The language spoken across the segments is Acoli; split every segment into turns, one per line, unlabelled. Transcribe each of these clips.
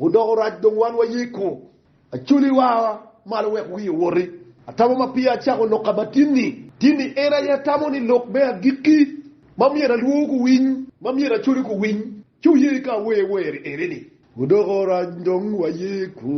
Odoko rac dong wan wayiko. Acoli wawa malo wek wii owoti. Atamo ma peya acako lokka ma tin-ni. Tin-ni en aye atamo ni lok me agikki ma myero alwor guwiny, ma myero acoli guwiny, ci oye ka awer wer eni-ni. Odoko rac dong wayiko,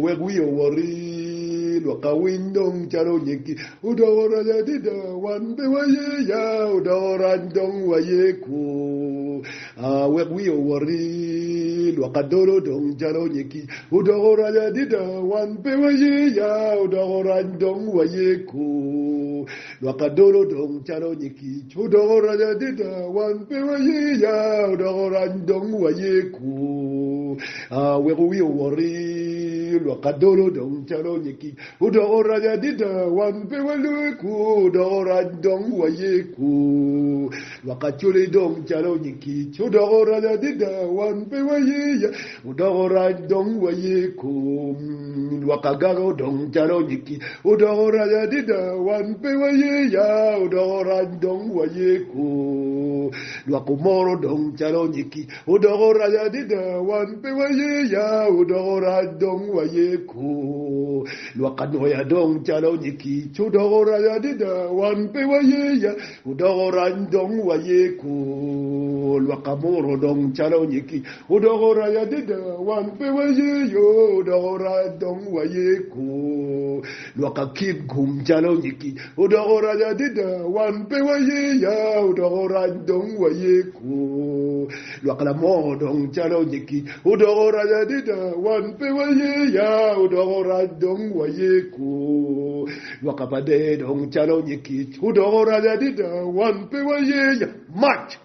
wek wii owoti, lwakka winy dong calo onyeggi. Odoko rac adida, wan pe waye ya. Odoko rac dong wayiko. Aa wek wiya owoti, lwak adolo dong jalo nyegi. Odoko rac adida, wan pe waye ya, odoko rac dong waye kor. Lwak adolo dong jalo nyegi, odoko rac adida, wan pe waye ya, odoko rac dong waye kor. Aa wek wiya owoti, lwak adolo dong jalo nyegi. Odoko rac adida, wan pe walue kor, odoko rac dong waye kor. Lwak Acholi dong calo nyig kic odoko rac adida, wan pe waye ya, odoko rac dong waye kom. Lwak Agago dong calo nyig kic odoko rac adida, wan pe waye ya, odoko rac dong waye kom. Lwak Omoro dong calo nyig kic odoko rac adida, wan pe waye ya, odoko rac dong waye kom. Lwak Anwoya dong calo nyig kic odoko rac adida, wan pe waye ya, Odoko rany dong waye kor lwak amuro dong calo nyig kic odoko rany adada wan pe wayeyo odoko rany dong waye kor lwak akik gum calo nyig kic odoko rany adada wan pe wayeya odoko rany dong waye kor lwak lamor dong calo nyig kic odoko rany adada wan pe wayeya odoko rany dong waye kor Gwoko pa dee dong calo nyig kic odoko oraco adida, wan pe wayenya. Mac!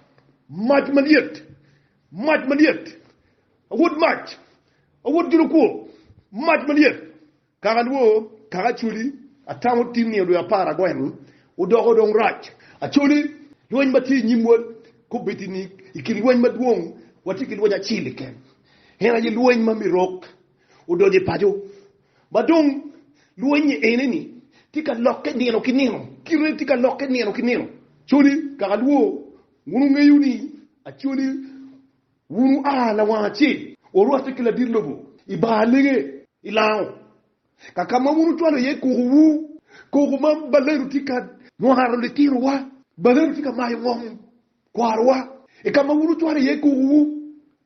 Mac malyet! Mac malyet! Awot mac! Awot julo kwo! Mac malyet! Kaka alwor, kaka Acholi, atamo tin nio dwe apar agweng odoko dong rac. Acholi, lweny ma tye i nyimwa kobedi ni i kin lweny madwong watye ki lweny acel keken, en aye lweny ma Mirok odonyo i paco Ma dong lwonye ene-ni tye ka lokke nino ki nino, kite-ni tye ka lokke nino ki nino. Coni kaka lwo, wun wungeyo ni acoli wun wua lawang acel, wurwatte ki ladit lobo i bar alenge, i lango, ka ka ma wun wucwalo iye kokowu. Koko ma balenu tye ka nwaro litinowa, balenu tye ka mayo ngom kwarowa i ka ma wun wucwalo iye kokowu.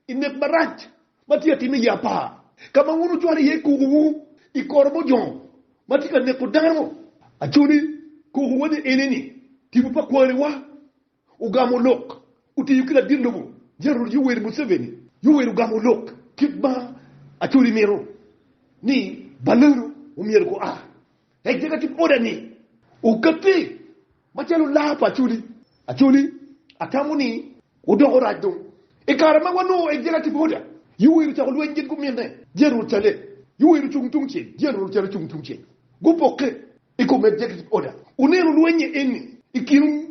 I nek marac ma tye ka timme i apar, ka ma wun wucwalo iye kokowu i kor bot jo ma tye ka neko dano, acoli kokowa ni eni ni, Tipo pa kwariwa ogamo lok, otiyo ki ladit lobo Gerald Yoweri Museveni. Yoweri ogamo lok kit ma acoli mito ni balodo omyero gua. Executive order ni okatti Macalo laa pa Acholi, Acholi, atamo ni wudoko rac dong. I kare ma wanongo Ejela ki Boda, Yoweri ocako lweny gin guminne, Jerucale. Yoweri ocung tungcel, Jerucale ocung tungcel. Gupokke i kom Executive Order. Wuneno lweny-nyi eni i kin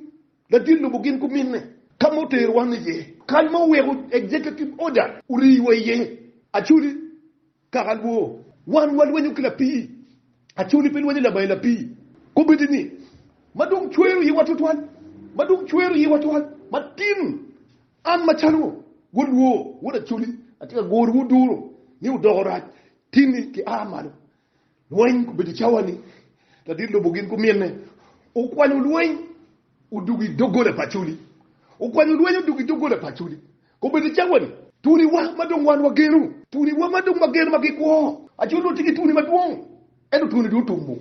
ladit lobo gin guminne, ka ma otero wan iye, kany ma oweko Executive Order oriwa iye. Acholi, Kaka lwor, wan walwenyo ki lapii. Acholi pe lwenyo labayi lapii. Kobedi ni, Ma dong cwero iwa twatwal, ma dong cwero iwa twal matin. An macalo wod lwor, wod acholi, atye ka gorowu duro ni wudoko rac, tinni ki a malo. Lweny gubedo cawa-ni, ladit lobo gin gumine. Okwanyo lweny odwogo i doggola pa Acholi. Okwanyo lweny odwogo i doggola pa Acholi. Gubedo cawa-ni, tuniwa ma dong wan wageno, tuniwa ma dong wageno ma gikwo. Acholi onongo tye ki tuni madwong, ento tuni dong otummu.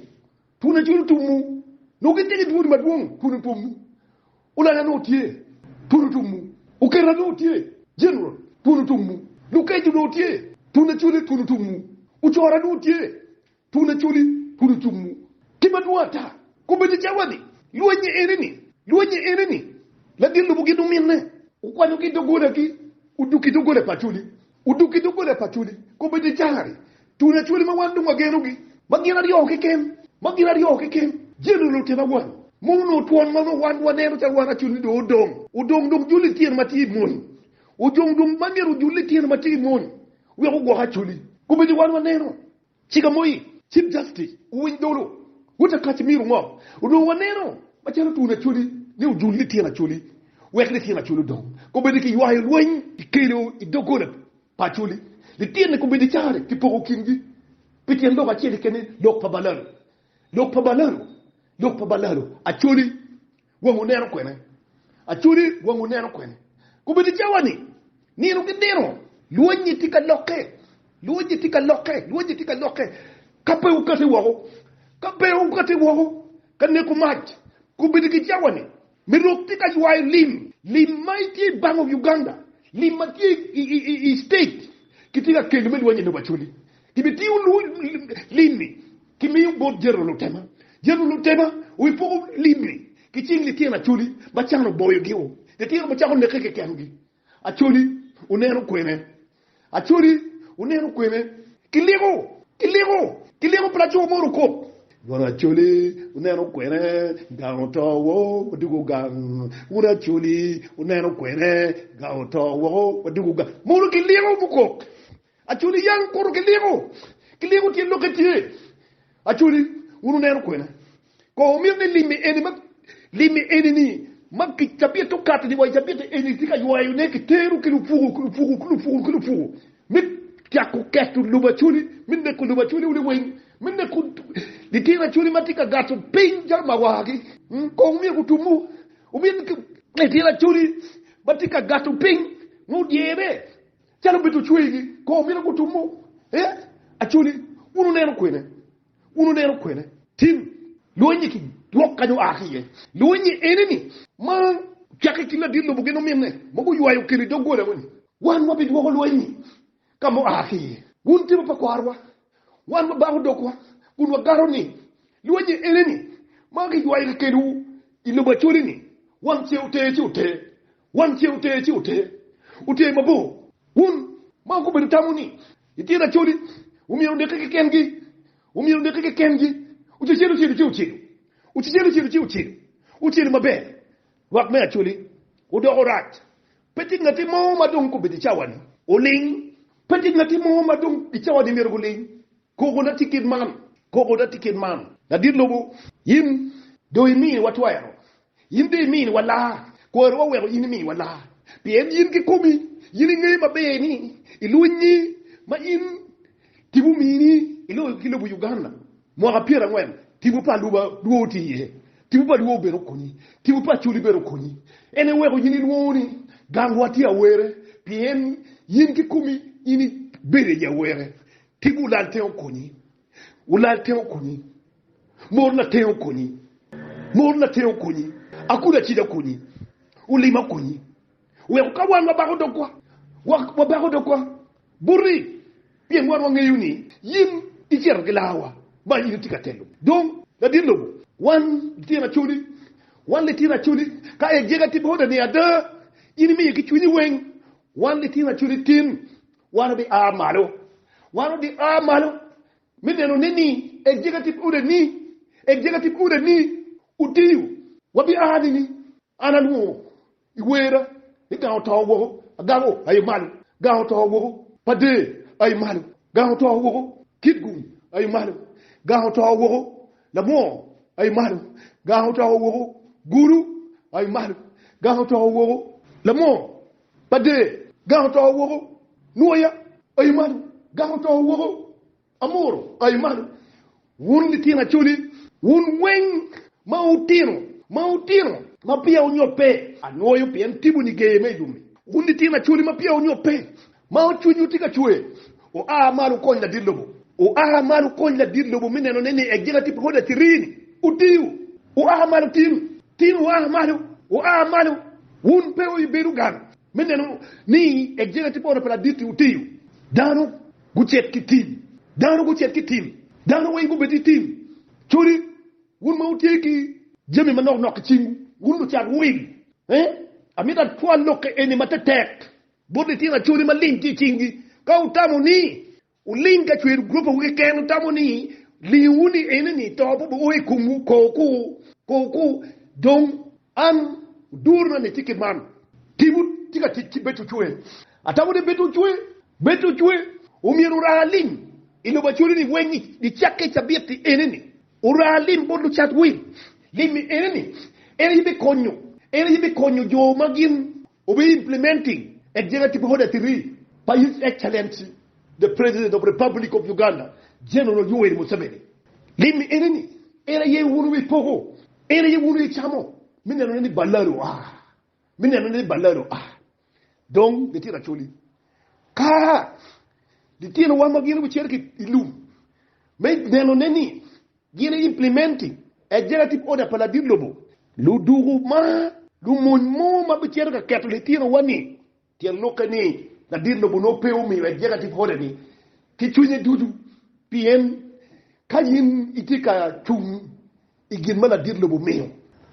Tuni Acholi otummu. Nongo gitye ki tuni madwong, tuni otummu. Ulaya nongo tye, pud otumwu. Oketa nongo tye, jeneral, pud otumwu. Lukeco nongo tye, pud lacoli, pud otumwu. Ocora nongo tye, pud lacoli, pud otumwu. Ki madwong ata, kobbe-ni cawa ni, Lweny-nyi ene-ni! Lweny-nyi ene-ni! Lagin lobo gin ominne, okwanyogi i doggolagi, odukki i doggole pa acoli, Odok ki doggola pa Acholi, kobbe dye Janari, Tun Acholi ma wan dong wagenogi. Ma gin aryo keken, ma gin aryo keken, Jeneral otena wan, mon onongo twon ma onongo wan waneno calo wan Acholi dong odong, odong dong jul lityen ma tye i mony, ojong dong ma myero ojul lityen ma tye i mony wek ogwok Acholi, kobbe dye wan waneno Chiga moi, Chief Justice, wuwiny dulu, Wota Kacimiro ngo? Onongo waneno macalo Twon Acholi ne ojul ni Tyen Acholi wek Lityen Acholi odong kobedi ki ywayo lweny ki kelo i doggola pa Acholi, Lityenne kobedi care ki poko kingi pi tyen lok acel keken ni lok pa Balalo, Lok pa Balalo, Lok pa Balalo, Acholi. Wang oneno kwene? Acholi, wang oneno kwene? Kobed i cawa-ni, nino ki nino, lwonynyi tye ka lokke, lwonynyi tye ka lokke, lwonynyi tye ka lokke. Ka pe wukati woko, ka pe wukati woko ka neko mac, kobed ki cawa-ni, me rok tye ka ywayo lim, lim ma itye i Bank of Uganda, lim ma tye i, i, i, i state, kitye ka kelo me lwonynyi lobo Acholi. Kibitiyo lim-mi kimiyo bot jero lutema. Jero lutema wipoko lim-mi ki cing litino acholi ma can oboyogi-o. Litino bicako neke kekengi. Acholi oneno kwene. Acholi oneno kwene. Kiliko! Kiliko! Kiliko pi laco moro okop. Wun acholi wuneno kwene? Gang oto woko, wadwogo gang. Wun acholi wuneno kwene? Gang oto woko, wadwogo gang. Mono kiliko mukok. Acholi yang kutu kiliko, kiliko tyen lokke tye. Acholi, wun wuneno kwena? Kono wumito ni limmi eni ma, limmi eni-ni ma ki cabitte okato-ni wa i cabitte eni tye ka ywayone ki teru ki lupuku, ki lupuku, ki lupuku, ki lupuku, me cako keto lobo Acholi, me neko lobo Acholi wun liwiny, me neko litino Acholi ma tye ka gato piny calo mawagi? Ung, kono wumyero gutummu. Wumito ni litino Acholi ma tye ka gato piny nongo dyere? Calo bed ocweyigi kor mito gutumu e Acholi, wun wuneno kwene? Wun wuneno kwene? Tim lweny-nyi ki lwok kany oa ki iye. Lweny-nyi ene-ni, ma ocakki i kin ladit lobo gin ominne, ma guywayo okelo i doggola moni. Wan wabidwoko lweny-nyi ka ma oa ki iye. Wun tipo pa kwarwa, wan wabako dogwa, kun wagato ni, Lweny-nyi ene-ni, ma giywayo kikelowu i lobo Acholi-ni, wang ce ote ci ote, Wang ce oter ci oter, oter mabor. Wun ma wugubedo tamo ni itye lacoli, wumyero wuneke kekengi, wumyero wuneke kekengi. Ocecelu ocelu ci ocelu, ocecelu ocelu ci ocelu, ocelu maber. Rwak me acoli odoko rac. Pe tye ngatti mo ma dong gubedo i cawa-ni oling. Pe tye ngatti mo ma dong i cawa-ni myero guling. Koko na tye kit man, koko na tye kit man. Ladit lobo, yin dong imiyo watwero In dong imiyowa laa, kwariwa weko in imiwa laa, pien in kikomi in ingeyo maber ni i lweny-nyi ma in tipo omini i loyo ki lobo Uganda mwaka pyera angwen, tipo pa luba dwo otye iye, tipo pa dwo bene okonyi, tipo pa Acholi bene okonyi, en aye weko in ilwongo ni gangwa tye awere, pien in kikomi in ibedo i awere, tipo olal te okonyi. Wulal tenge okonyi. Mor na tenge okonyi. Mor na tenge okonyi. Akudo acida okonyi. Olima okonyi. Weko ka wan wabako dogwa, wabako dogwa boti, pien wan wangeyo ni yin icito ki lawa, ma in itye ka telo. Dong, ladit lobo, wan litino acoli, wan litino acoli, ka ejega tye bota ni ada, in imiyo ki cwinyi weng, wan litino acoli tin, Wan wabi a malo. Wan wabi a malo me neno ne ni executive order ni, executive order ni otiyo. Wabi a ni ni an alwongo i werra ni gang oto woko, agamo aye malo, gang oto woko, pader aye malo, gang oto woko, kitgum aye malo, gang oto woko, lamwor aye malo, gang oto woko, gulu aye malo, gang oto woko, lamwor Pa Dee, Gang oto woko! Nwoya, Aye malo! Gang oto woko! Amuru, Aye malo! Wun litino Acholi, wun weng ma wutino, ma wutino, ma peya wunyobbe, anwoyo pien tibu nigeye me yubbi. Wun litino Acholi ma peya wunyobbe, ma cwinywu tye ka cwer, Oa malo wukony ladit lobo. Oa malo wukony ladit lobo me neno ne ni egika tip rwod Acirini otiyo. Oa malo tin, tin oa malo, oa malo. Wun pe wubedo gang me neno ni egika tip ot pa ladit-ti otiyo. Dano gucit ki tim, dano gucit ki tim, dano weng gubed ki tim. Codi, wun ma wutye ki jami manok nok i cingwu, wun lucat wil, ee, amito atwal lokke eni matetek. Bot litino acoli ma ling tye i cingi, ka wutamo ni wuling ka cwero guropawu keken, wutamo ni lingowu ni enoni to pe obio o i komwu, ko wuku, Dong an, odurona ni tye kit man. Timwu tye ka tic ki bedo ocwe. Atamo ni bedo ocwe, bedo ocwe, omyero ora alim i lobo acoli-ni weng i cakke cabit-ti enoni. Ora alim bot lucat wil. Lim-mi enoni, en aye bikonyo, en aye bikonyo jo ma gin We'll be implementing Executive Order Three pa His Excellency the President of Republic of Uganda General Yoweri Museveni. Gin ni ene ni, En aye wun wi poko, en aye wun wi camo me nenone ni ballar oa, me nenone ni ballar oa. Dong litino Acholi ka litinowa ma gin gucito ki i lum me nenone ni Gin i implimenti Executive Order pa ladit lobo. Ludoko ma lumony mo ma bicito ka keto litinowa ni, tyen lokke ni ladit lobo nongo pe omiyo Executive Order ni ki cwinye ducu, pien ka in itye ka cung i gin ma ladit lobo omiyo,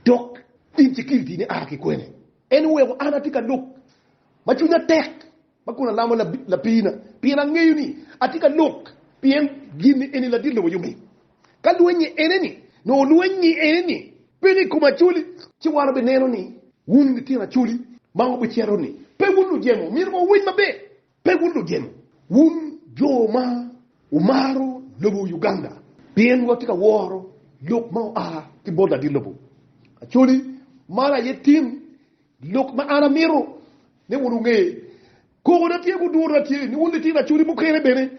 dok in security-ni a ki kwene? En oweko an atye ka lok ma cwinya tek. Ma kun alamo lapiina, pien angeyo ni atye ka lok, pien gin eni ladit lobo yommi. Ka lwenyi eneni, nongo lwenyi eneni pe ni i kom Acholi. Ci wan wubineno ni wun litino Acholi, ma wubicito ni, Pe wun lujemo, myero wa wuwiny maber. Pe wun lujemo, wun jo ma wumaro lobo Uganda, pien watye ka woro lok ma oa ki bot ladit lobo Acholi, man aye tim Lok ma an amito ni wun wunge, Kogona tye gudura tye ni wun litino acodi mukene bene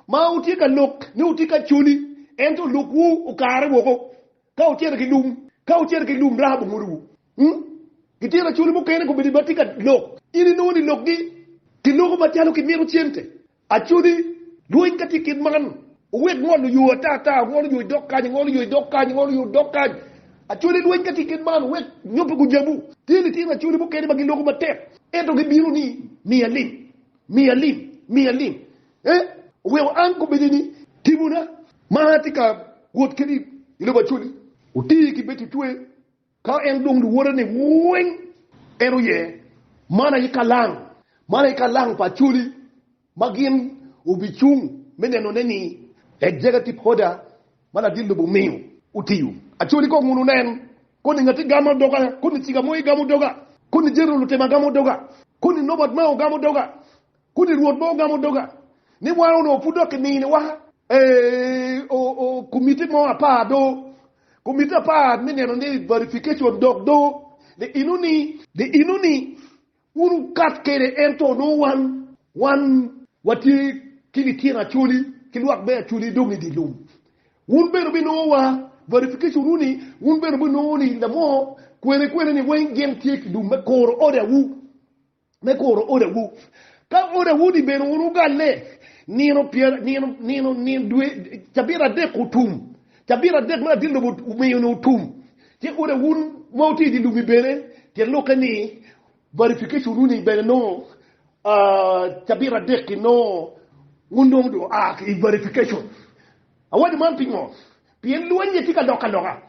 ma wutye ka lok ni wutye ka coli, ento lokwu okare woko ka wucito ki lum, ka wucito ki lum Rahab ongudowu. Litino acoli mukene kobedo ma tye ka lok, in inongo ni lokgi ki loko macalo kimito cente Acodi, lweny ka tye kit man, wuwek ngol oyo ata ata, ngol oyo i dog kany, ngol oyo i dog kany, ngol oyo i dog kany. Acodi, lweny ka tye kit man, wuwek nyo pe gujamu. Tye litino acodi mukene ma giloko matek, ento gibino ni, Miya lim, miya lim, miya lim. Eh, oweko an kobbedi ni, Timona, ma atye ka wot keni i lobo acodi, oti ki bedo tutwe Ka en dong luwote ni weng, en oye malaika lang, malaika lang pa Acholi ma gin obicung me nenone ni Executive Order ma ladit lobo omiyo otiyo. Acholi kong uno nen, koni ngati gamo doga, koni ciga mo igamo doga, koni General Otema gamo doga, koni Norbert Mao gamo doga. Kodi Rwot ma ogamo doga, ni wan onongo pud dok kininiwa, ee, oo, komiti mo apar do, komiti apar me neno ni verification dok do, the inoni, the inoni, wun wukat kede ento onongo wan, wan watye ki litino acholi ki lwak me acholi dong i di lum, wun bene wubinongo wa verification wu ni wun bene wubinongo ni lamo kwene kwene ni weng gin tye ki lum me koro order wu. me kuro odawu. Ka odawu-ni bene wun wugalle nino cabit adek otum, cabit adek me adit lobo omiyo-ni otum, ci odawu ma wutye idye lum-mi bene tyen lokke ni verification-nu-ni bene nongo cabit adek-ki nongo wun dong dong aa ki i verification. Awaco man pingo? Pien lweny-nyi tye ka lok aloka.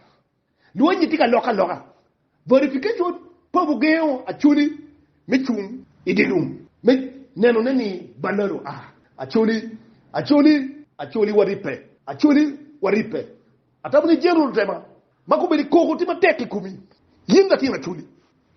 Lwonye tye ka lokke aloka. Verification pa bugengo Acholi me cung i dye lum me nenone ni Balalo a. Acholi, Acholi, Acholi waribbe, Acholi waribbe. Atamo ni General Lutema ma kombeddi koko tye matek i komi. In latin Acholi,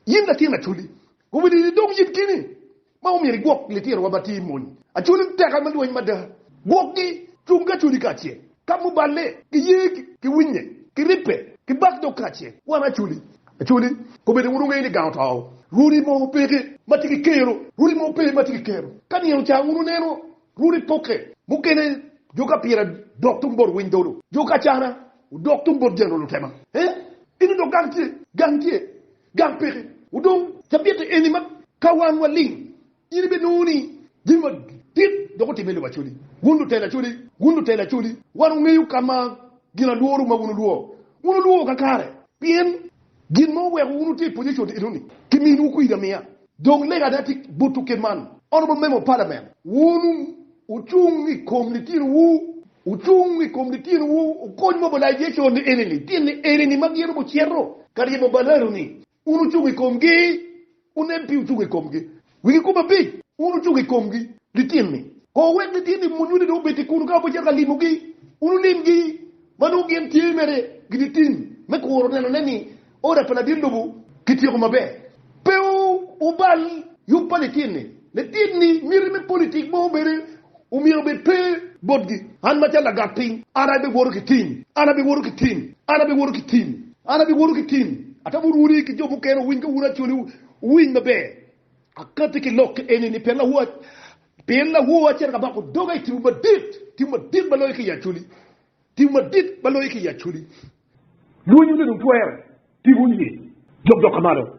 in latin Acholi, kombeddi idong yit gini. ma omyero igwok litirowa ma tye i mony acoli teka me lweny mada. Gwokgi cung ki acoli kacel, ka muballe ki yer ki winye ki ribbe ki bak dog kacel. Wan acoli acoli kobeddi wun wungeyo ni gang otou. Rwodi mo peke ma tye ki kero, rwodi mo pe ma tye ki kero. Ka nino ca wun wuneno rwodi pokke, mukene jo ka pira dok tung bot winy dolo, jo ka cana odok tung bot jalo lutema. Ee, gin odok gang tye, gang tye, Gang peke odong cabitte eni ma ka wan waling, in ibinongo ni gin madit dok otimme i lobo Acholi. Wun lutela Acholi, wun lutela Acholi, wan wangeyo ka ma gin alworo ma wun wulwo. Wun wulwo kakare pien gin ma oweko wun wutye i pwonye code enoni, kiminiwu kwidi amiya. Dong lega ada tye buto kit man, ono bot memo palamen, wunu wucung i kom litinowu, wucung i kom litinowu, wukony mogo lajeco ni eni, litini eni-ni ma gin obucito ka ryemo balanu-ni, wun wucung i komgi, wunen pi wucung i komgi, wigi kome abic, wun wucung i komgi, litini-ni, ko wek litini munyuni dong obed-di kunu ka wubicito ka limogi, wun wulimgi, ma nongo gin tye mere gin i tim me kuro nenone ni, Oda pa ladit lobo kityeko maber. Pe wubal yub pa lityen-ni. Lityen-ni miti me politik mogo bene omyero obed pe botgi. An macalo lagat piny, an abiwoto ki tim, an abiwoto ki tim, an abiwoto ki tim, an abiwoto ki tim. Atamo rwodi ki jo mukene owiny ka wun acoli, wuwiny maber. Akatti ki lok eni ni pien lawo, pien lawowa cito ka bako doga i timwu madit, timwu madit ma loyo ki i acoli. Tim madit ma loyo ki i acoli. Lwonyi onongo twere, pi wun ye jok dok ka malo.